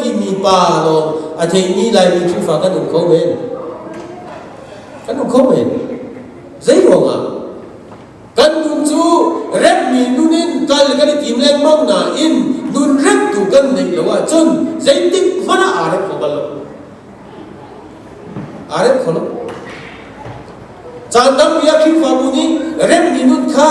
mi pa lawng a theimi Laimi Khrihfa kan um kho men. Kan um kho men. Zei ruangah? Kan nu cu remmi nun in kal kan i tim lengmang nain nun remtu kan neih lo ahcun zeitik hmanh ah aa rep kho bal lo. Aa rep kho lo. Caan tampi ah Khrihfabu nih remmi nun kha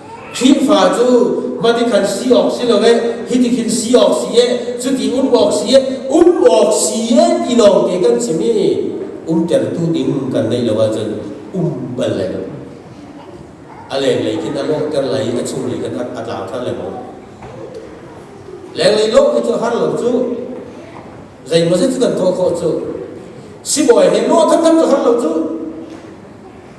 Khrihfa cu mati khan si awk si lo e, hiti khin si awk si e, cuti um awk si e, um awk si e ti lawngte kan simi umtertu ding kan neih lo ahcun um bal lai lo. A lenglei khin a lawhter lai i a chunglei khan a tlauter le maw. Lenglei lo hi cu har lo cu zeimaw zet cu kan thawh khawh cu sibawi he nawh tham tham cu har lo cu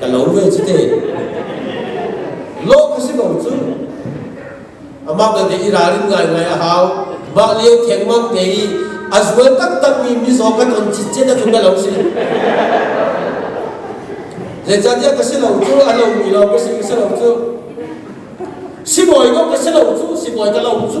Ka lo ve cu te. Lo ka si ko cu. Amah ka te i ralrin ngaingai a hau. Mah le khengmang te i a zual taktak mi mizaw kan on cit cit a tlung ka lo si. Zeicahtiah ka si lo cu a lo mi lo ka si ka si lo cu. Sibawi ko ka si lo cu sibawi ka lo cu.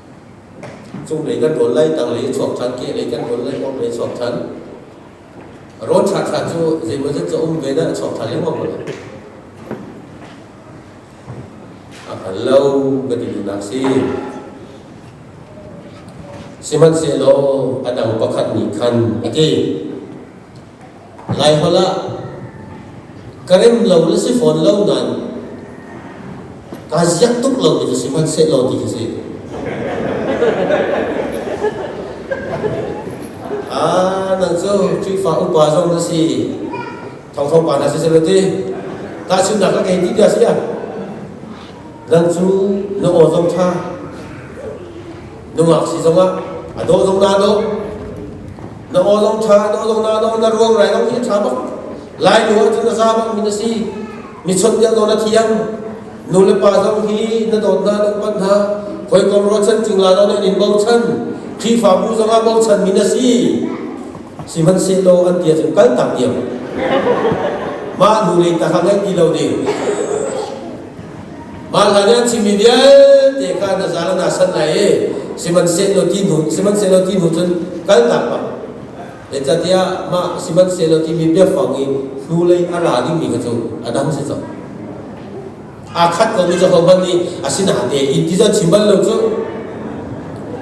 Cunglei kan rawl lai, tanglei i chuak ṭhan, kehlei kan rawl lai, orhlei chuak ṭhan. Rawl ṭhaṭha cu zeimaw zet cu a um ve dah, chuak ṭhan lengmang maw? A hngal lo ka ti duhnak si. Sihmanhsehlaw a dang pakhat nih khan a ti. Laiholh ah ka rem lo na si fawn lo nain kaa ziak tuk lo mi cu si hmanhsehlaw ti khi si. Ah, nang cu Khrihfa upa zong na si. Thongtho pa na si sel ti. Tahchunhnak ka kei ti dah si ah. Nang cu na aw zong tha. nungak si zong ah a daw zong na daw na aw zong tha daw zong na daw na ruang rai zong hi tha bak lai nu ah cun a za bak min a si mi chon dia daw na thiang nu le pa zong hi na dawt na na pan na koi kom ro chan cingla do na in bo chan khi fa bu zong a bo chan min a si si man se lo an tia cun kal tak diam ma nu le ta ha ngai ti lo de Vanla nih an chimmi vialte kha na zal na sanh lai i sihmanhsehlaw ti hnu sihmanhsehlaw ti hnu cun kalnak bang zeicahtiah mah sihmanhsehlaw timi biafang i hnulei a ra dingmi kha cu a dang si cang. Aa khat komi cu hohmanh nih a si nate in ti cu an chim bal lo cu.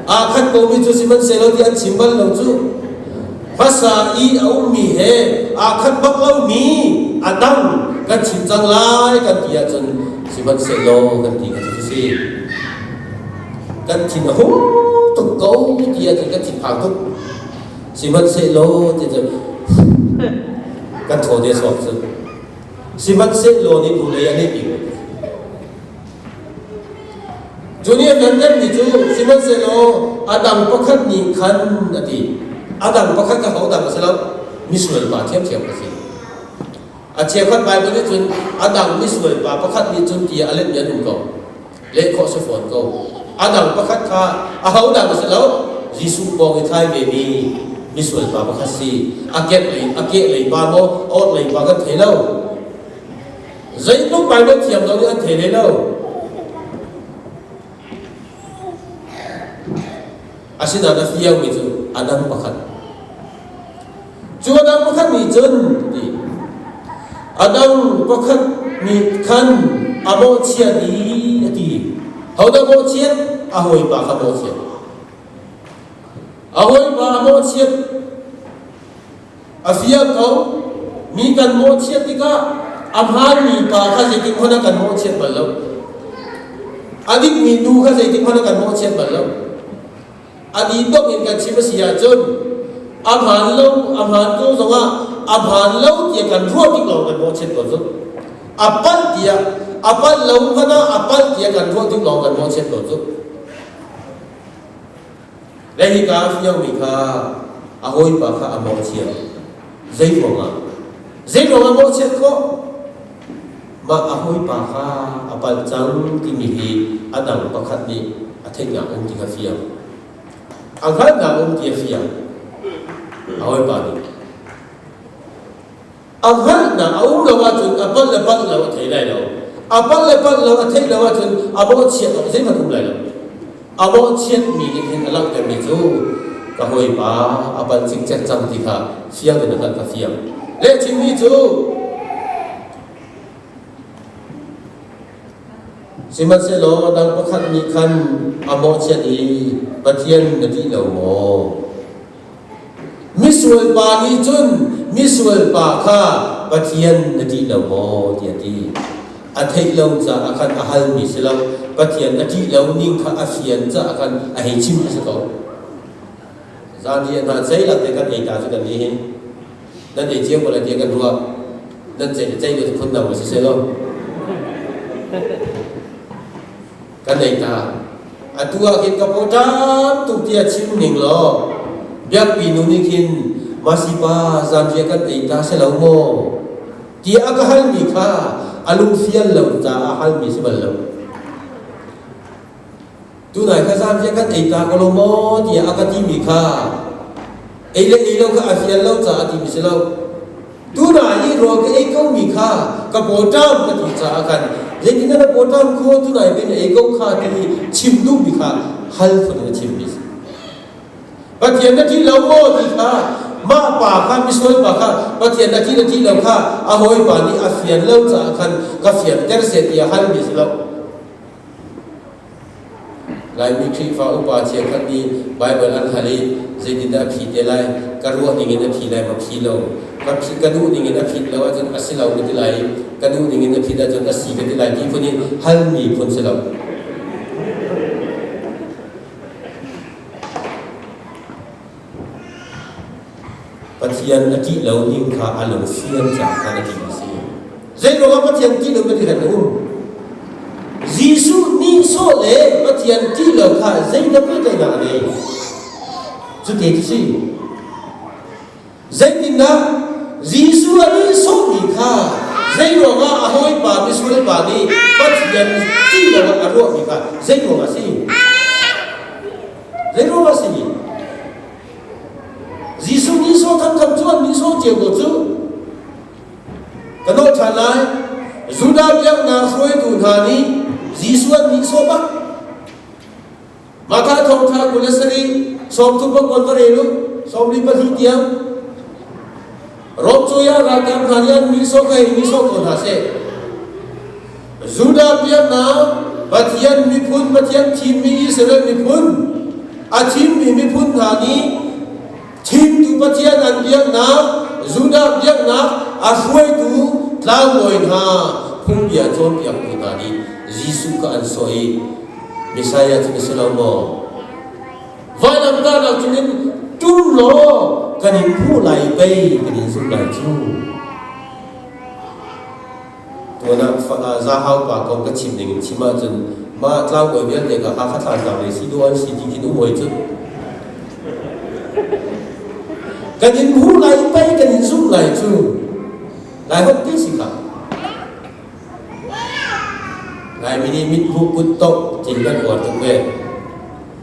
Aa khat komi cu sihmanhsehlaw ti an chim bal lo cu hmasa i a ummi he aa khat bak lomi a dang kan chim cang lai kan ti ahcun sihmanhsehlaw kan ti kha cu si kan thin a hung tuk ko ti ahcun kan thinphang tuk sihmanhsehlaw ti cu kan thaw ne sawk cu sihmanhsehlaw nih tu lei a lehpi ko Junior hnangammi cu sihmanhsehlaw a dang pakhat nih khan a ti. A dang pakhat kha hodah a si lo misual pa ṭhiamṭhiam a si. A chiakhat Baibal nih cun a dang misual pa pakhat nih cun ti a letmi an um ko. Leh khawh si fawn ko. A dang pakhat kha ahodah a si lo Jesuh pawng i thai vemi misual pa pakhat si. A kehlei a kehlei pa maw orhlei pa kan thei lo. Zeitluk Baibal thiam lo nih an thei leh lo. Asinain a fiangmi cu a dang pakhat. Cu a dang pakhat nih cun ti a dang pakhat nih khan a bawhchiat i a ti. Hodah bawhchiat? A hawipa kha bawhchiat. A hawipa a bawhchiat. A fir ko. Mi kan mawhchiat tikah a hmaanmi pa kha zeitin hmanh ah kan mawhchiat bal lo. A dikmi nu kha zeitin hmanh ah kan mawhchiat bal lo. A ditok in kan chim a si ahcun a hmaan lo, a hmaan ko zongah a hmaan lo tiah kan ruah tik lawng kan mawhchiat ko zung. A pal tiah, a pal lo hmanh ah a pal tiah kan ruah tik lawng kan mawhchiat ko zung. Le hika fiomi kha a hawipa kha a mawhchiat. Zei ruangah? Zei ruangah mawhchiat khawh? Mah a hawipa kha a palh cang timi hi a dang pakhat nih a theihnak um ti kha fiang. A hngalhnak um ti a fiang. A hawipa nih a hngalhnak a um lo ahcun a palh le palh lo a thei lai lo a palh le palh lo a theih lo ahcun a bawhchiat awk zeihmanh um lai lo a bawhchiatmi nih hin a langhtermi cu ka hawipa a pal cikcek cang ti kha fiang in khan ka fiang lehchimi cu sihmanhsehlaw dang pakhat nih khan a mawhchiat i pathian na tih lo maw Misualpa nih cun misualpa kha Pathian na ṭih lo maw tiah a ti. A theih lo caah khan a halmi si lo, Pathian a ṭih lo ning kha a fian caah khan a hei chim a si ko. Zan hi hna ceilap te kan ei ta cu kan nih hi. Nan ei cio ko le tiah kan ruah. Nan ceih ceih le phun dang ma si seh law. kan ei ta atu ah khin ka paw tam tuk tia chim ning law biakpi nu nih khin masipa zanriah kan ei ta se lo maw ti a ka hal mi kha a lungfial lo caah hal mi si bal lo tunai kha zanriah kan ei ta ka lo maw ti a ka ti mi kha ei le ei lo kha a fial lo caah ti mi si lo Tunai i rawl ka ei ko mi kha ka bawṭam ka ti caah khan zetin na bawṭam kho tunai bin ei ko kha ti i chim duh mi kha hal phun a chim mi si. Pathian na ṭih lo maw ti kha mah pa kha misual pa kha Pathian na ṭih na ṭih lo kha a hawipa nih a fian lo caah khan ka fianter seh ti a hal mi si lo. Laimi Khrihfa upa cheukhat nih Baibal an hal i zeitindah a phi te lai? Ka ruah ningin a phi lai maw? Phi lo. Ka phi ka duh ningin a phit lo ahcun a si lo ka ti lai i ka duh ningin a phit ahcun a si ka ti lai ti phun hi halmi phun si lo. Pathian a ṭih lo ning kha a lung fian cangka a ṭih a si. Zeiruangah Pathian ṭih lo Pathian a um? Jesuh nihsawh le Pathian ṭih lo kha zeidang pehtlaihnak a ngei. Cuti a si. Zeitindah Jesuh a nihsawhmi kha zeiruangah a hawipa misual pa nih Pathian ṭih loah a ruahmi kha zeiruangah a si? Zeiruk a si mi? Jesuh nihsawh thantham cu an nihsawh cio ko cu. Ka nawh ṭhan lai, Judah biaknak hruaitu hna nih Jesuh an nihsawh bak. Matha thawngṭha kul le sarih, sawmthum pakul ka rel u, sawmli pahnih tiang. Rom cu ya ralkap hna nih mi sawh kha mi sawh ko hna seh. Judah biaknak Pathian miphun Pathian thimmi Israel miphun a thimmi miphun hna nih thimtu Pathian an biaknak Judah biaknak a hruaitu tlangbawi hna phungbia cawnpiaktu hna nih Jesuh kha an sawh i Messiah cu ka si lo maw? Vaidamtar lo chungin tu law kan in hmuh lai pei kan in zumh lai cu. Tuanah zahau pa kong ka chim ding in chim ahcun mah tlangbawi vialte ka ha kha thlan tak le si duh an si ti khin um hoi cu. Kan in hmuh lai pei kan in zumh lai cu. Lai hok te si ka. Lai mi nih mit huk kut to tin kan uar tuk ve.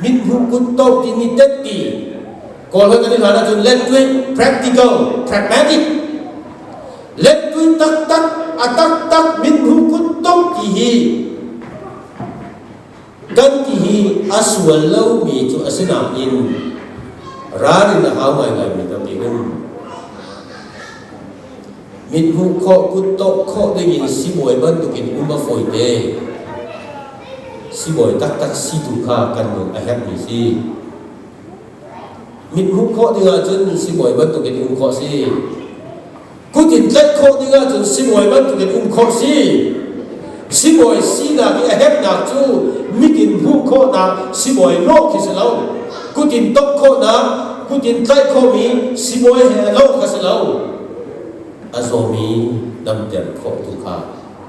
Mithmuh kut tawp timi tetti Kawl hoi kan i hlan ahcun let tweet practical pragmatic let tweet taktak a taktak mithmuh kut tawp ti hi kan ti hi a sual lomi cu a si nain ral in a hau ngaingaimi tampi in Mithmuh khawh, kutdongh khawh dingin sibawi bantukin um a fawite. Sibawi taktak si tu kha kan nun a herhmi si. Mithmuh khawh ding ahcun sibawi bantukin um khawh si. Kut in tlaih khawh ding ahcun sibawi bantukin um khawh si. Sibawi sinak i a herhnak cu mit in hmuh khawhnak sibawi lawh khi si lo. Kut in tongh khawhnak, kut in tlaih khawhmi sibawi he lo kha si lo. A zawmi damter khawh tu kha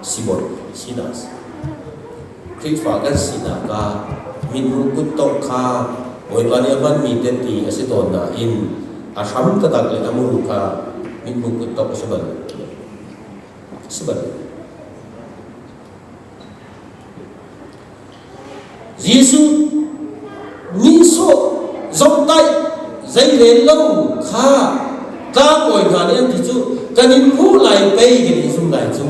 sibawi sinak a si. Khrihfa kan sinak ah minhu kuttongh kha Bawipa nih a hmanmi tehti a si tawn nain a hram tatak le a muru kha minhu kuttongh a si bal. A si bal. Jesuh nihsawh zomhtaih zei rel lo kha tlang bawi hna nih an ti cu kan in hmuh lai pei kan in zum lai cu.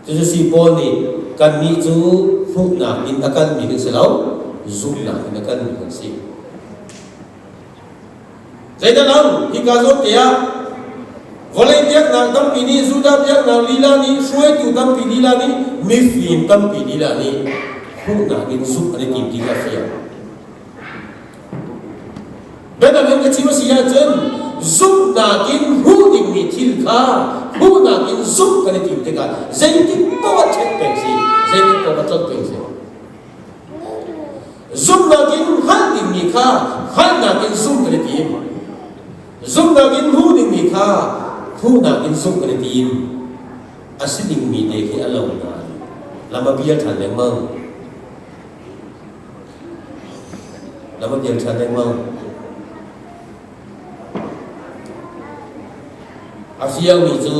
Cucu si Paul nih kannih cu hmuhnak in a kanmi kan si lo, zumhnak in a kanmi kan si. Zeidah lo? Hika zawte ah vawlei biaknak tampi nih Judah biaknak lila nih hruaitu tampi lila nih mifim tampi lila nih hmuhnak in zumh an i tim ti kha fiang. Biatak in ka chim a si ahcun zumhnak in hmuh dingmi thil kha hmuhnak in zumh kan i tim tikah zeitik paoh a ṭhet peng si, zeitik paoh a tlolh peng si. Zumhnak in hngalh dingmi kha hngalhnak in zumh kan i tim. Zumhnak in hmuh dingmi kha hmuhnak in zumh kan i tim. A si dingmi te khi a lo nain lam a bial ṭhan lengmang. Lam a bial ṭhan lengmang. A fiangmi cu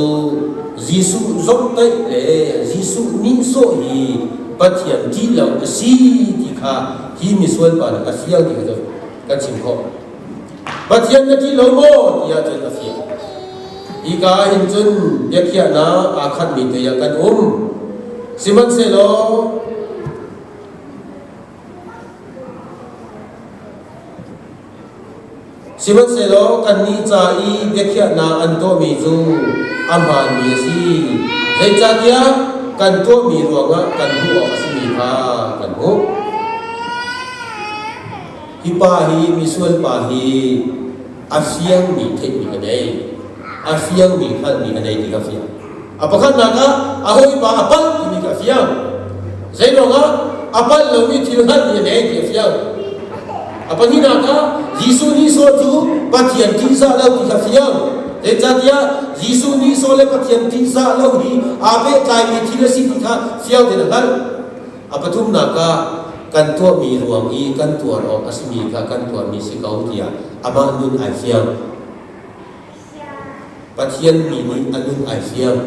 Jesuh zomhtaih le Jesuh nihsawh hi Pathian ṭih lo a si ti kha hi misual pa nih a fiang ti cu kan chim khawh. Pathian na ṭih lo maw tiah cun a fiang. Hika ah hin cun biakhiahnak aa khatmi te ah kan um. Sihmanhsehlaw Sihmanhsehlaw kannih ca i biakhiahnak an tuahmi cu a hmaanmi a si, zeicahtiah kan tuahmi ruangah kan hmuh awk a simi kha kan hmuh. Hi pa hi misual pa hi a fiangmi theihmi ka nei, a fiangmi hngalhmi ka nei ti ka fiang. A pakhatnak ah a hawipa a palh timi kha a fiang. Zeiruangah a palh lomi thil hngalhmi a deng ti a fiang. A pahnihnak ah Jesuh nihsawh cu Pathian ṭihzah lo ti kha a fiang. Zeicahtiah Jesuh nihsawh le Pathian ṭihzah lo hi aa pehtlaimi thil a si ti kha fiang tein a hngalh. A pathumnak ah kan tuahmi ruang i kan tuar awk a simi kha kan tuarmi si ko tiah amah nun ai fiang. Pathian mi nih a nun ai fiang.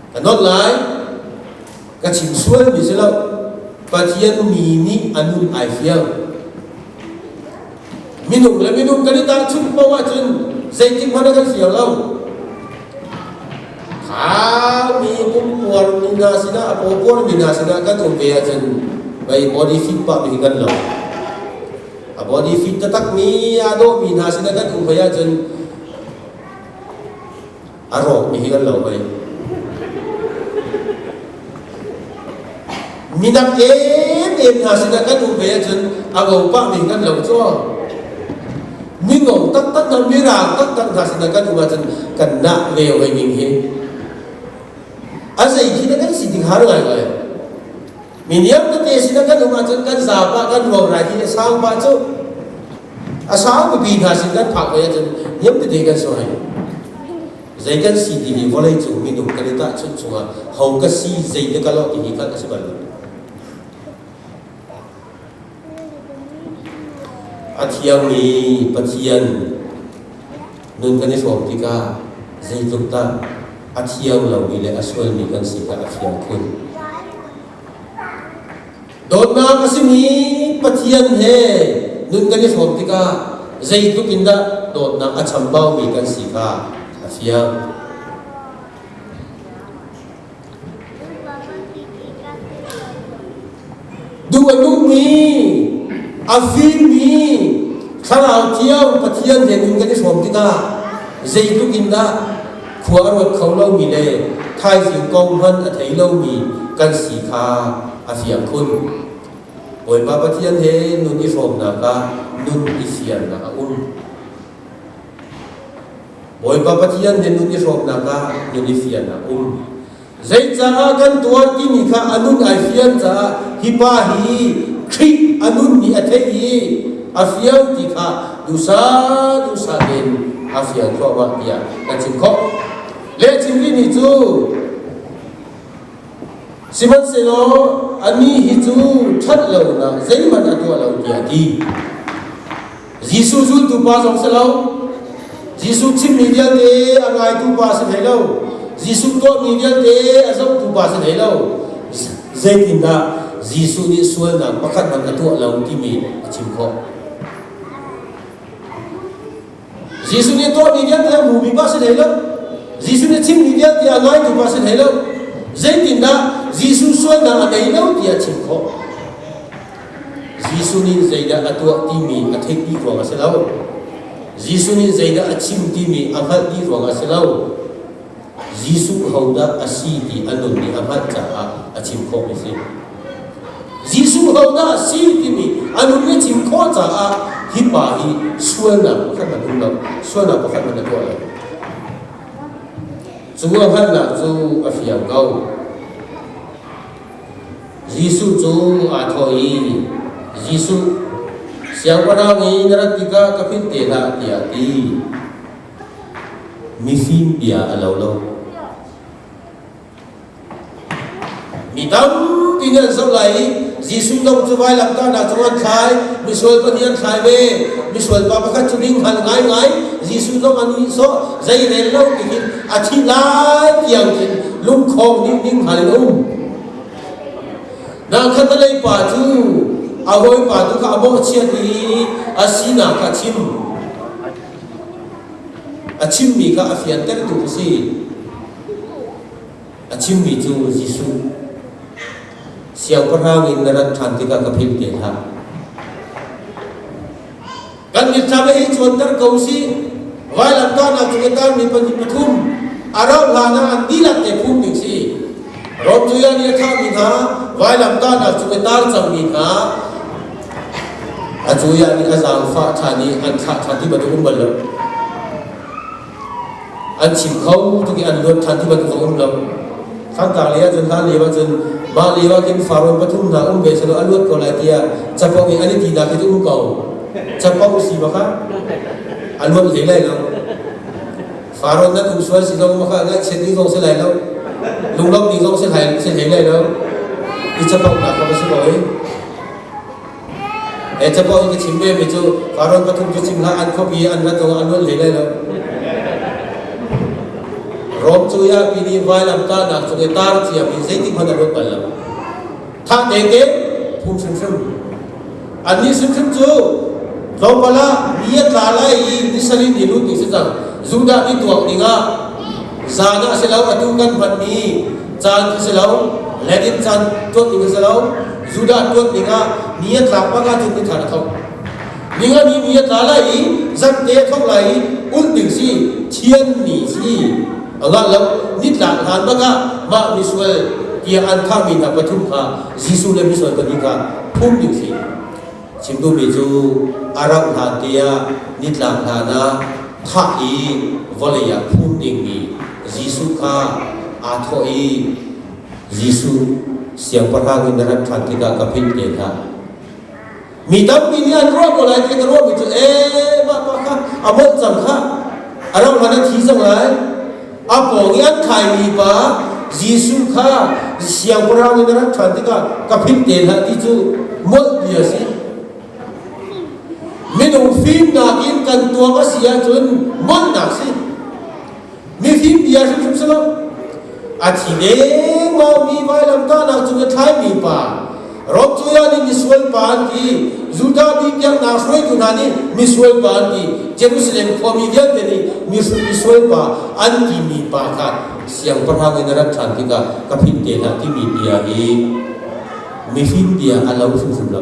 Ka not lai, ka chim sual mi si lo, Pathian mi nih a nun ai fiang. Minung le minung kan i tahchunh paoh ahcun zeitik hmanh a kan fiang lo. Kami pumpuar mi hna sinah, pawpuar mi hna sinah kan um ve ahcun, bei body fit pa mi hi kan lo. a body fit taktakmi aa dawhmi hna sinah kan um hoi ahcun a rawkmi hi kan lo hoi minak em em hna sinah kan um hoi ahcun a gopah min kan lo cawk mingo taktak na mirang taktak hna sinah kan um ahcun kan na ve hoi ning hi a zei khi na kan si tik har ngai ngai Mi niam tete sin kan um ahcun kan zapa kan ruang lai i a sang pa cu a sang pipi hna sin kan phak ve ahcun niam tete kan so hai zei kan si ti hi vawlei cung minung kan i tah chunh chungah ho ka si zei te ka lo ti hi khan a si bal lo A thiangmi Pathian nun kan i hrawm tikah zeitluk dah a thiang lomi le a sualmi kan si kha a fiang khun. Dawtnak a simi Pathian he nun kan i hrawm tikah zeitluk in dah dawtnak a chambaumi kan si kha a fiang. Duh a duhmi, a fimmi thlarau cio Pathian he in kan i hrawm tikah zeitluk in dah khua a ruat kho lomi le thaizing kong hman a thei lomi kan si kha a fiang khun. Bawipa Pathian he nun i hrawmnak ah nun i siarnak a um. Bawipa Pathian hnenut i hrawmnak ah nun i fiannak um. Zeicaah kan tuan timi kha a nun ai fian caah hi pa hi Khrih a nun nih a theih i a fial ti kha dusa dusa tein a fial thluahmah tiah kan chim khawh. Lehchim ri nih cu sihmanhsehlaw a ni hi cu ṭhat lonak zeihmanh a tuah lo tiah a ti. Jesuh zultu pa zong si lo. Jesuh chimmi vialte a raitu pa si hlei lo. Jesuh tuahmi vialte a zohtu pa si hlei lo. Zeitindah Jesuh nih sualnak pakhat hmanh a tuah lo timi a chim khawh. Jesuh nih tuahmi vialte a hmuhmi pa si hlei lo. Jesuh nih chimmi vialte a ngaitu pa si hlei lo. Zeitindah Jesuh sualnak a ngei lo ti a chim khawh. Jesuh nih zeidah a tuah timi a theih ti ruang a si lo. Jesuh nih zeidah a chim timi a hngalh ti ruang a si lo. Jesuh hodah a si ti a nun i a hngalh caah a chim khawhmi a si. Jesuh hodah a si timi a nun i a chim khawh caah hi pa hi sualnak pakhat hmanh um lo, sualnak pakhat hmanh a tuah lo. Cu a hngalhnak cu a fiang ko. Jesuh cu aa thawh i, Jesuh, Siangpahrang i na rat tikah ka hrin te hlah, tiah a ti. Mifim bia a lo lo. Mi tampi nih an zoh lai i Jesuh dong cu vailamtahnak cung an thlai, misual pahnih an thlai ve. Misual pa pakhat cu ding hal ngaingai, Jesuh dong an ihsawh, zei rel lo tihin a thi lai tiang khin lungkhawng dingding hal in um na khatalei pa cu a hawipa tu kha a bawhchiat i a sinak kha a chim a chimmi kha a fiantertu a si a chimmi cu Jesuh siangpahrang in na rat ṭhan tikah ka philh te hlah Kan mit hna hi cuanter ko si. Vailam tuahnak cu kan mi pahnih pathum a rauh hlan ah an dihlak te phum ding si. Rom tuya nih a thahmi hna vailam tuahnak cu a tar cangmi kha a tuya nih a zaangfah ṭhan i an thlah ṭhan ti bantuk um bal lo. an chim kho tuk i an luat ṭhan ti bantuk a um lo Khartar lei ahcun hlan lio ahcun mah lio ah khin Faron pathum hna um ve selaw a luat ko lai tiah capo i an i ti nak hi cu um ko capo si maka a luat hlei lai lo Faron nan um sual si lo maka ngaihchiat ni zong si lai lo lunglawm ni zong si hlai si hlei lai lo i capo nak kha va si ko i He cabuah ka chim ve mi cu Karawn pathum cu cim hlah an khuapi an rat awg an rual ve lai lo. Rom cu ya pi nih vailam tlahnak cung i tar cia mi zeitik hmanh a ruat bal lo. Tha tete phung hrimhrim. Annih hrimhrim cu tlawmpal ah mi a tla lai i ni salin i lut ding si cang. Judah nih tuak ding ah zan ah si lo atu kan hmanmi caan khi si lo, let in caan tuat ding si lo, Judah tuat dingah ni a tla pang ahcun ni thar a tho. Ning a ni ni a tla lai i zan te a tho lai i ulh ding si thian ni si Allah lo ni tla hlan bangah mah misual tia an khangmi hna pathum kha Jesuh le misual pahnih kha phum ding si chimtu mi cu a rauh hlan te ah ni tlang hlan ah thah i vawlei ah phum dingmi Jesuh kha aa thawh i Jesuh siangpahrang in na rat ṭhan tikah ka philh te hlah. Mi tampi nih an ruah ko lai ti na ruahmi cu e mah pa kha a molh cang kha a rauh hlan a thi zong lai. A pawng i an thlaimi pa Jesuh kha siangpahrang in na rat ṭhan tikah ka philh te hlah ti cu molh ti a si. Minung fimnak in kan tuam a si ahcun molhnak si. mifim bia hrimhrim si lo a thi dengmangmi vailam tahnak cung a thlaimi pa Romcuya nih misual pa an ti Judah mi biaknak hruaitu hna nih misual pa an ti Jerusalem khuami vialte nih misual pa an timi pa kha siangpahrang in a rat ṭhan tikah ka phit te hlah timi bia hi mifim bia a lo hrimhrim lo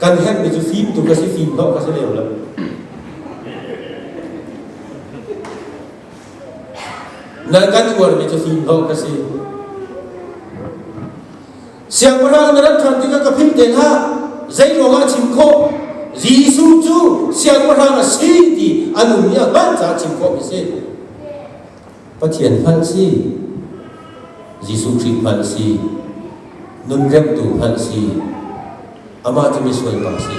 Kan herhmi cu fim tuk ka si, fim dawh ka si leo lo. Nan kan uarmi cu fim dawh ka si. Siangpahrang na rat ṭhan tikah ka philh te hlah. Zei ruangah chim khawh? Jesuh cu siangpahrang a si ti an um i a hmaan caah chim khawh mi si. Pathian hmanh si, Jesuh Khrih hmanh si, nunremhtu hmanh si, amah cu misual pa si.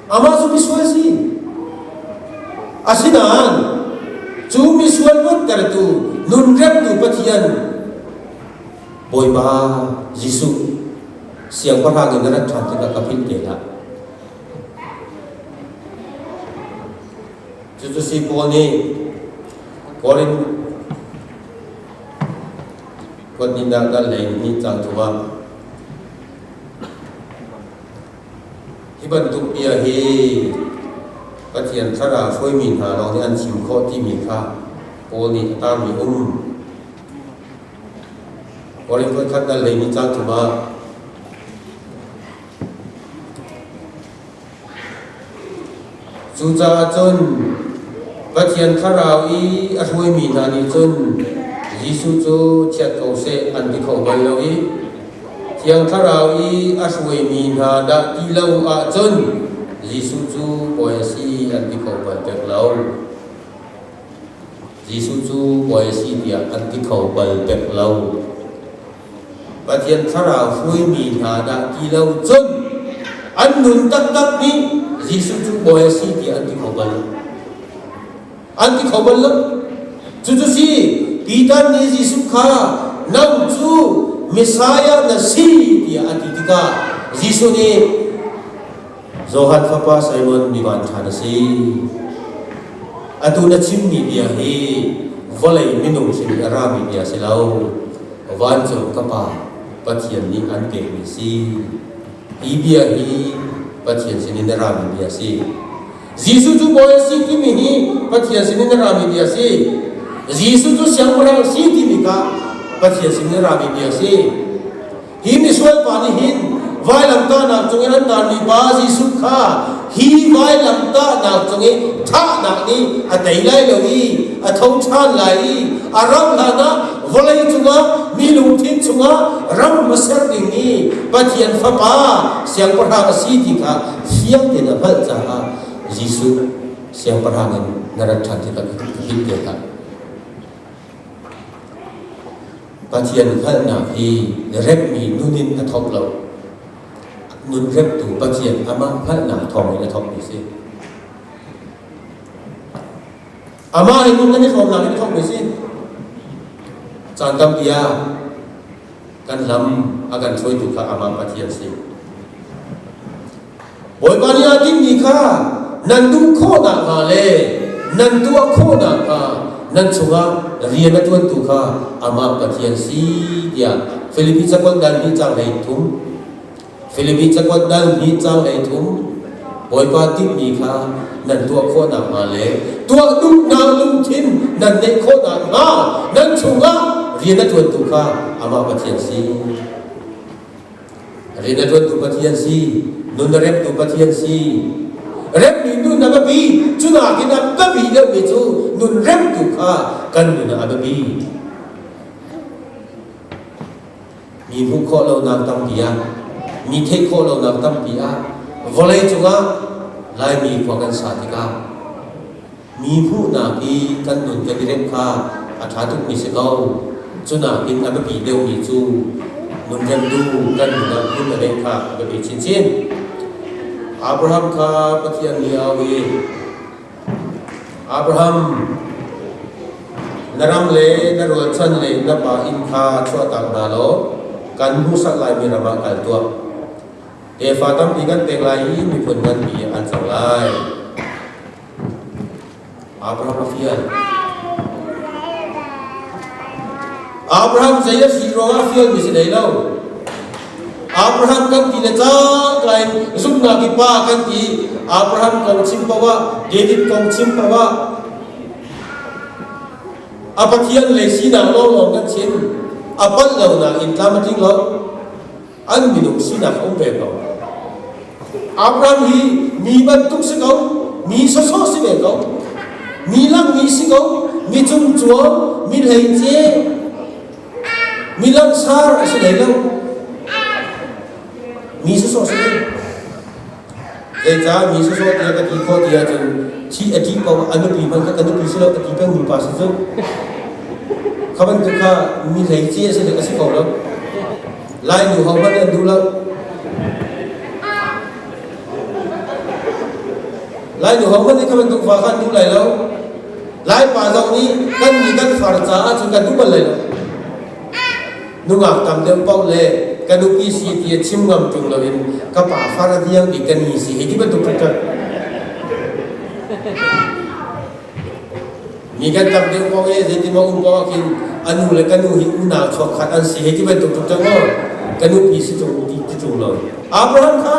Amah cu misual si. Asinain cu misual funtertu nunremtu Pathian Bawipa Jesuh siangpahrang in na rat ṭhan tikah ka philh te hlah. Cucu si pawl nih Korin kuatnindah kan lei ni caan chungah hi bantuk bia hi Pathian thlarau hruaimi hna lawng nih an chim khawh timi kha Paul nih a tarmi um. Korin khuakhat kan lei ni caan chungah Cucaah cun Pathian Thlarau i a hruaimi hna nih cun Jesuh cu chiat ko seh an ti kho bal lo i Thiang Thlarau i a hruaimi hna dah ti lo ahcun Jesuh cu Bawi a si an ti kho bal pek lo. Jesuh cu Bawi a si tiah kan ti kho bal pek lo. Pathian thlarau hruaimi hna dah ti lo cun an nun taktak hi Jesuh cu bawi a si ti an ti kho bal. An ti kho bal lo. Cucu si Peter nih Jesuh kha nau cu Messiah na si tiah a ti tikah Jesuh nih Zohan fapa Simon mi van ṭha na si. Atu na chimmi bia hi vawlei minung sin i a rami bia si lo, vancung ka Pa, Pathian nih an pekmi si. Hi bia hi Pathian sinin a rami bia si. Jesuh cu Bawi a si timi hi Pathian sinin a rami bia si. Jesuh cu siangpahrang si timi kha Pathian sinin a rami bia si. Hi misual pa nih hin vailamtahnak cungin an tarmi pa Jesuh kha hi vailamtahnak cungin thahnak nih a tei lai lo i a tho ṭhan lai i a rauh hlanah vawlei cungah mi lungthin chungah ram a ser dingmi Pathian fapa siangpahrang a si ti kha fiang tein a hngalh caah Jesuh siangpahrang in na rat ṭhan tikah ka him te hlah. Pathian hngalhnak hi na remhmi nunin a thawk lo. Nun remtu Pathian amah hngalhnak thawng in a thawkmi si. Amah le nun nan i hlawmnak in a thawkmi si. Caan tampi ah kan lam a kan hruaitu kha amah Pathian si. Bawipa nih a dingmi kha nan duh khawh nakhnga le nan tuah khawh nakhnga nan chungah rian a ṭuantu kha amah Pathian si tiah Filipi cakuat dal hnih changlei thum Filipi cakuat dal hnih changlei thum Bawipa tinhmi kha nan tuah khawh nakhnga le tuah duhnak lungthin nan neih khawh nakhnga nan chungah rian a ṭuantu kha amah Pathian si. Rin a ṭuantu Pathian si, nun a remtu Pathian si. Remmi nun a biapi, cu nakin a biapi deuhmi cu nun remtu kha kan nun ah a biapi. Mi hmuh khawh lonak tampi ah, mi theih khawh lonak tampi ah, vawlei cungah Laimi khua kan sa tikah Mi hmuhnak i kan nun kan i remh kha a ṭha tukmi si ko. Cunakin a biapi deuhmi cu nunremtu kan nunnak hmun le kha a biapi chinchin. Abraham kha Pathian nih a auh i, Abraham, na rang le na rualchan le na pa inn kha chuahtak hna law kan hmuhsak laimi ram ah kal tuah. Tefa tampi kan pek lai i miphun nganpi an cang lai. Abraham fian. Abraham zei a si ruangah fian mi si nei lo. Abraham kan ti le cak lai zumnak i pa kan ti Abraham kong chim pawa David kong chim pawa a pathian le sinak lawng lawng kan chim a palh lo nak in tlam a tling lo an minung sinak a um ve ko. Abraham hi mi bantuk si ko, mi sawsawh si ve ko, mi langmi si ko, mi cungcuang, mi hleice, mi lansar a si hlei lo. Mi sawsawh si ve. Zeicah mi sawsawh tiah ka ti khawh ti ahcun thi a ṭih paoh a nupi hmanh kha ka nupi si lo a ti pengmi pa si cu kha bantuk kha mi hlei ci a si dek a si ko lo lai nu ho hmanh an duh lo lai nu ho hmanh nih kha bantuk fa kha an duh lai lo lai pa zong nih kan nih kan far caah cun kan duh bal lai lo nungak tam deuh paoh le ka nupi si ti a chim ngam ṭung loin ka pa far a diang i ka ni si hei ti bantuk cu ṭan mi kan tam deuh paoh e zei ti maw um paoh ahhin a nu le ka nu hi unau chuak khat an si hei ti bantuk cu ṭan maw ka nupi si ṭung ti ṭung lo Abraham kha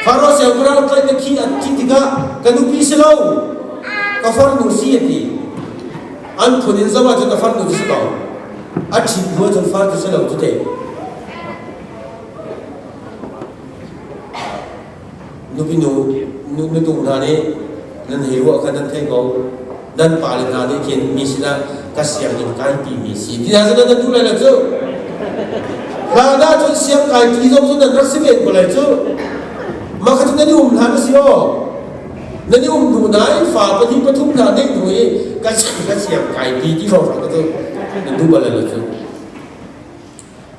Faro siangpahrang tlaih na khi a thi tikah ka nupi si lo ka farnu si a ti an phun in zong ahcun a far dun si ko a ṭhit hnu ahcun far dun si lo cu te nupi nu nutu hna nih nan hei ruah kha nan thei ko nan pale hna nih khin mi sinah ka siang in kai ti mi si ti hna zong nan tu lai lo cu hna na cun siang kai ti zong cu nan rak si ve ko lai cu mah kha cu nan i um hna ka si aw nan i um duh nain fa pahnih pathum hna ngeih hnu i ka chan ka siang kai pi ti hro ka tu na duh bal lo cu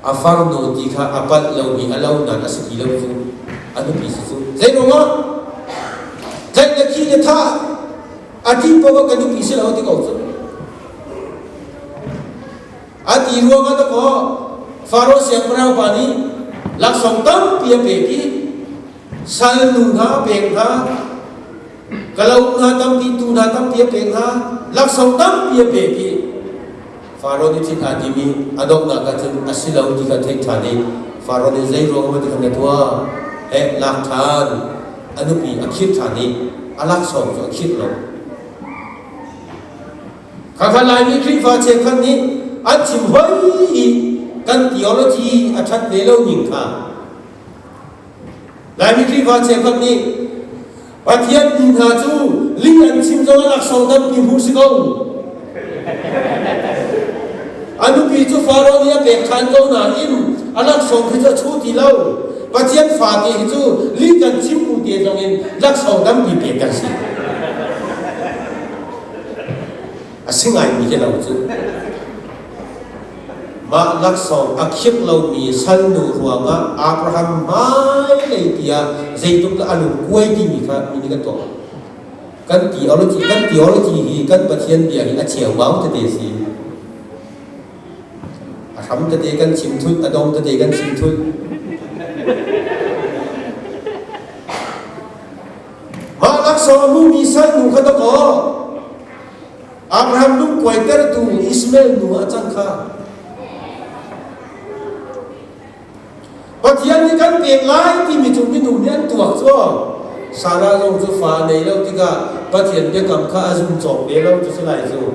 a farnu ti kha a palh lo mi a lo nan a si ti lo cu a nupi si cu zei ruang ah tlai na khi na tha a ti pa ka nupi si lo ti ko cu a ti ruang ah ta ko faro siang parau pa nih laksong tampi a pe ki salnu hna pek hna kalo hna tampi tu hna tampi a pek hna laksau tampi a pek i faro nih thin aa tim i a donghnak ah cun a si lo ti kha theih ṭhan i faro nih zei ruangah ti khan ka tuah he lak ṭhan a nupi a khirh ṭhan i a laksawng cu a khirh lo kha kha laimi khrihfa cheukhat nih an chim hoi i kan theology a ṭhat ve lo ning kha Laimi Khrihfa cheukhat nih Pathian tu hna cu li an chim zong ah sodan ti hmuh si ko. A nupi cu Faro nih a pek ṭhan ko nain a laksawng khi cu a chu ti lo. Pathian fate hi cu li kan chim bu te zong in laksawng dam ti pek kan si. A si ngaimi khi lo cu. Mah laksawng a khimh lomi salnu ruangah Abraham hmailei tiah zeitluk a lungkuai timi kha mi nih kan tuah. Kan theology, kan theology hi kan Pathian bia hi a cheuau tete si. A hram tete kan chim thut, a dong tete kan chim thut. Mah laksawng hmuhmi salnu kha dawk aw. Abraham nu kuaitertu Ismail nu a cang kha Pathian nih kan pek lai timi cu minung nih an tuah cu Sarah zong cu fa a nei lo tikah Pathian biakam kha a zum cawk ve lo cu si lai cu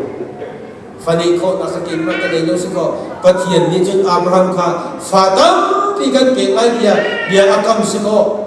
fa neih khawhnak a kein mah ka nei lo si kaw Pathian nih cun Abraham kha fa tampi kan pek lai bia bia a kam si kaw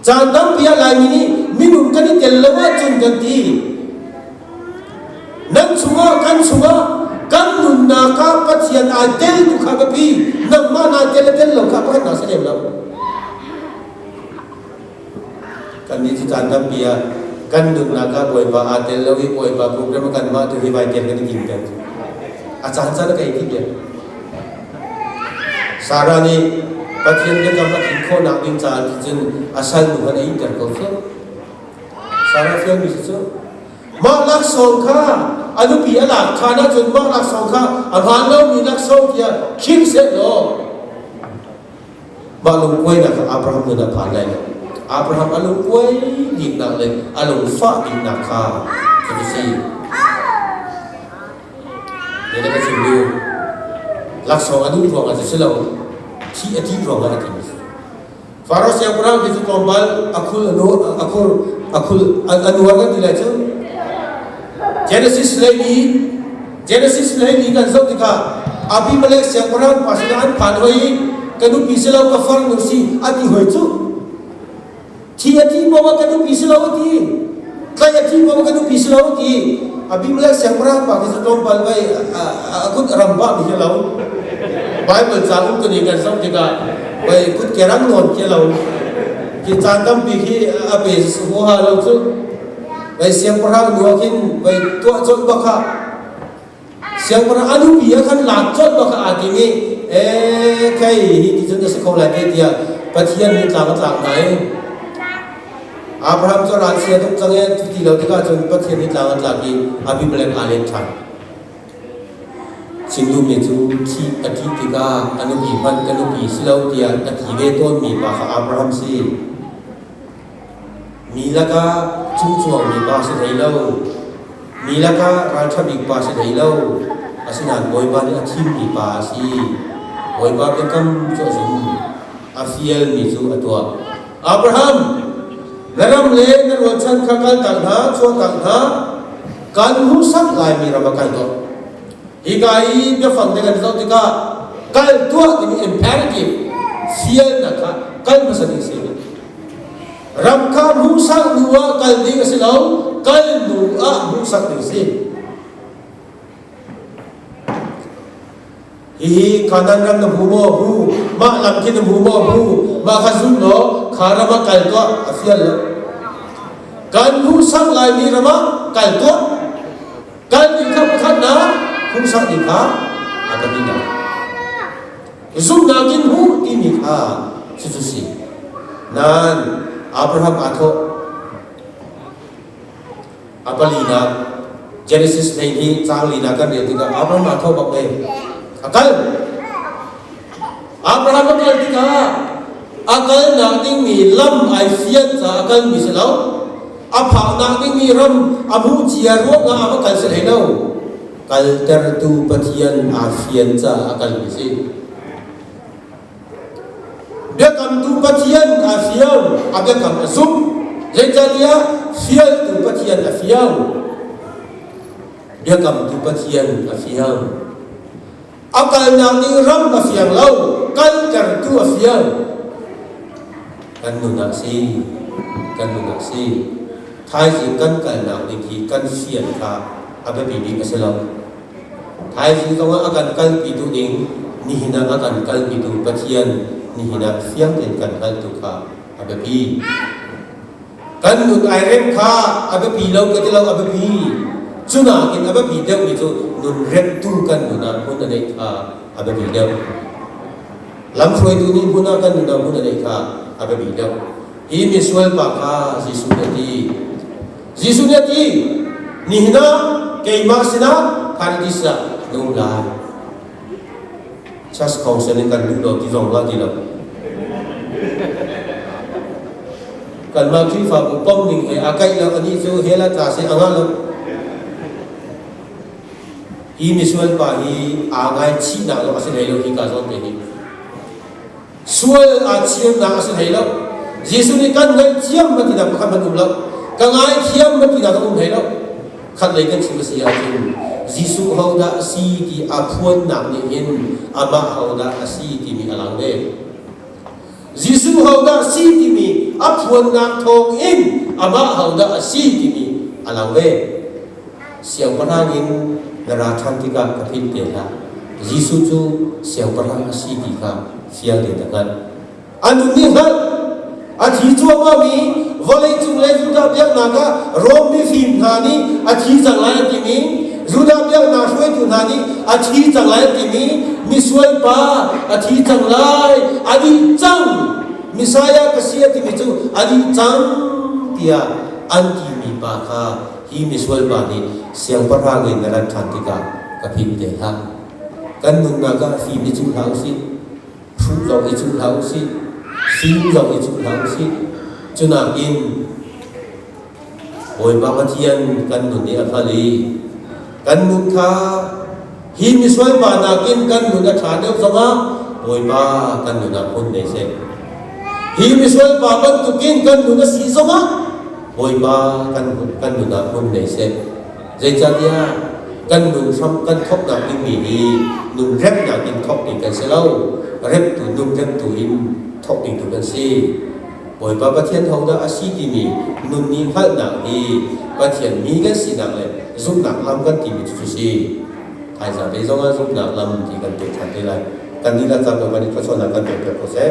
Caan tampi ah Laimi nih minung kan i tel lo ahcun kan ti. Nan chungah kan chungah kan nunnak ah Pathian aa tel tu kha ka pi nangmah naa tel le tel lo kha ka hman hna si lem lo. Kan nih cu caan tampi ah kan nunnak ah Bawipa aa tel lo i Bawipa program kan mah tu hi vai tel kan i tim ter. A caan caan ka i tim ya. Sarah nih Pathian biakam a tlin khawhnak ding caah nih cun a salnu kha a iter ko hrim. Sarah fialmi cu mah laksawng kha a nupi a lak ṭhan ahcun mah laksawng kha a hlan lomi laksawng tiah khim sehlaw mah lungkuainak kha Abraham nun a phan lai lo. Abraham a lungkuai diknak le a lungfah diknak kha kan si. Tiah a chim i laksawng a duh ruangah si lo thi a dih ruangah a thi. Faro siangpahrang hi cu tlawmpal a khul a nu a khul a khul a nuar kan ti lai cu. Genesis leili Genesis leili kan zoh tikah Abimelek siangpahrang pa sinah an phan hoi i ka nupi si lo ka farnu si a ti hoi cu. Thi a thi poah kan duhmi si lo ti. Tlai a thi poah kan duhmi si lo ti. A bing le siangpahrang pa khi cu tlawmpal vai a kut a ram ba mi hi lo. Bible caan um tuni kan zoh tikah vai kut ke rang nawn ke lo. Ki caan tampi khi a pe oha lo cu. Vai siangpahrang luak hin vai tuah colh bakha siangpahrang a dupi ah khan laan colh bak aa tim i e khei hi ti cun a si kho lai te tiah Pathian nih tlang a tlang hna i Abraham cu ral sia tuk cang e cu ti lo tikah cun Pathian nih tlang a tlang i Abimelek aa let ṭhan Sindum nih cu thi a ṭih tikah a nupi hmanh ka nupi si lo tiah a ti ve tawnmi pa kha Abraham si. Mi lakah chungchuangmi pa si hlei lo, mi lakah ralṭha bik pa si hlei lo, asinain Bawipa nih a thimmi pa a si. Bawipa biakam cu a zum, a fialmi cu a tuah. Abraham, na ram le na rualchan kha kaltak hna, chuahtak hna, kan hmuhsak laimi ram ah kal tuah. Hika i biafang te kan zoh tikah kal tuah timi imperative fialnak kha kal hmasa ding a si. Ram kha hmuhsak hnu ah kal ding a si lo, kal hnu ah hmuhsak ding a si. Hihi kanan ram na hmu maw hu, mah lam khin na hmu maw hu, mah kha zun law kha ram ah kal tuah a fial lo. Kan hmuhsak laimi ram ah kal tuah, kal ding kha pakhatnak hmuhsak ding kha a ka bina. Zumhnak in hmu timi kha cucu si. Nan Abraham aa thawh. A palinak Genesis hlei hi caang linak kan rel tikah Abraham aa thawh bak le a kal. Abraham a kal tikah a kalnak dingmi lam ai fian caah a kalmi si lo. A phaknak dingmi ram a hmuh cia ruangah a va kal si hlei lo. Kaltertu Pathian aa fian caah a kal mi si. Biakamtu Pathian aa fio, a biakam a sum. Zeicahtiah fialtu Pathian a fio, biakamtu Pathian a fio. a kalnak ning ram a fiang lo kaltertu a fial kan nun ah si kan nun ah si thaizing kan kalnak ning hi kan fian kha a biapi bik a si lo thaizing kong ah a kan kalpitu ning nihin ah a kan kalpitu pathian nihin ah fiang tein kan hngalhtu kha a biapi Kan nun ai reng kha a biapi lo ka ti lo a biapi. Cu nakin a biapi deuhmi cu nun remtu kan nun ah hmun a neih kha a biapi deuh. Lamhruaitu nih hmun ah kan nun ah hmun a neih kha a biapi deuh. Hi misual pa kha Jesuh nih a ti. Jesuh nih a ti, nihin ah keimah sinah paradis ah nung lai. Church Council in kan duh lo ti zong hngalh ti lo. Kanmah Khrihfabu pom ning he a kaih lo anih cu hela tla se a ngah lo. Hi misual pa hi aa ngaichih nak lo a si hlei lo hi ka zong te nih. sual aa chiamnak a si hlei lo Jesuh nih kan ngaih thiam na tinak pakhat hmanh um lo ka ngai thiam na tinak a um hlei lo khat lei kan chim a si ahcun Jesuh hodah si ti a phuannak nih hin amah hodah a si timi a lang ve Jesuh hodah si timi a phuannak thawng in amah hodah a si timi a lang ve Siangpahrang in na ra ṭhan tikah ka tlin te hlah. Jesuh cu siangpahrang a si ti kha fiang tein na hngalh. An um nih hngalh a thi cuahmah mi vawleicung le Judah biaknak ah Rom mifim hna nih a thi cang lai a timi Judah biaknak hruaitu hna nih a thi cang lai a timi misualpa a thi cang lai a dih cang Messiah ka si a timi cu a dih cang tiah an timi pa kha hi misual pa nih siangpahrang in na rat ṭhan tikah ka pim te hlah. Kan nunnak ah fim i cuh hlah u sih. Hruh zong i cuh hlah u sih. Sing zong i cuh hlah u sih. Cunakin Bawipa Pathian kan nun i a hngal i kan nun kha hi misual pa nakin kan nun a ṭha deuh zongah Bawipa kan nunah phun nei seh hi misual pa bantukin kan nun a si zongah Bawipa kan nun kan nunah phun nei seh zeicahtiah kan nun hram kan thoknak dingmi hi nun remnak in thok ding kan si lo reptu nun remtu in thok ding tu kan si Bawipa Pathian hodah a si timi nun nih hngalhnak hi Pathian mi kan sinak le zumhnak lam kan timi cu si. Phaisa te zongah zumhnak lam ti kan pek than te lai. Kan dihlak kar tu kan i thlawchuahnak kan pekpiak ko seh.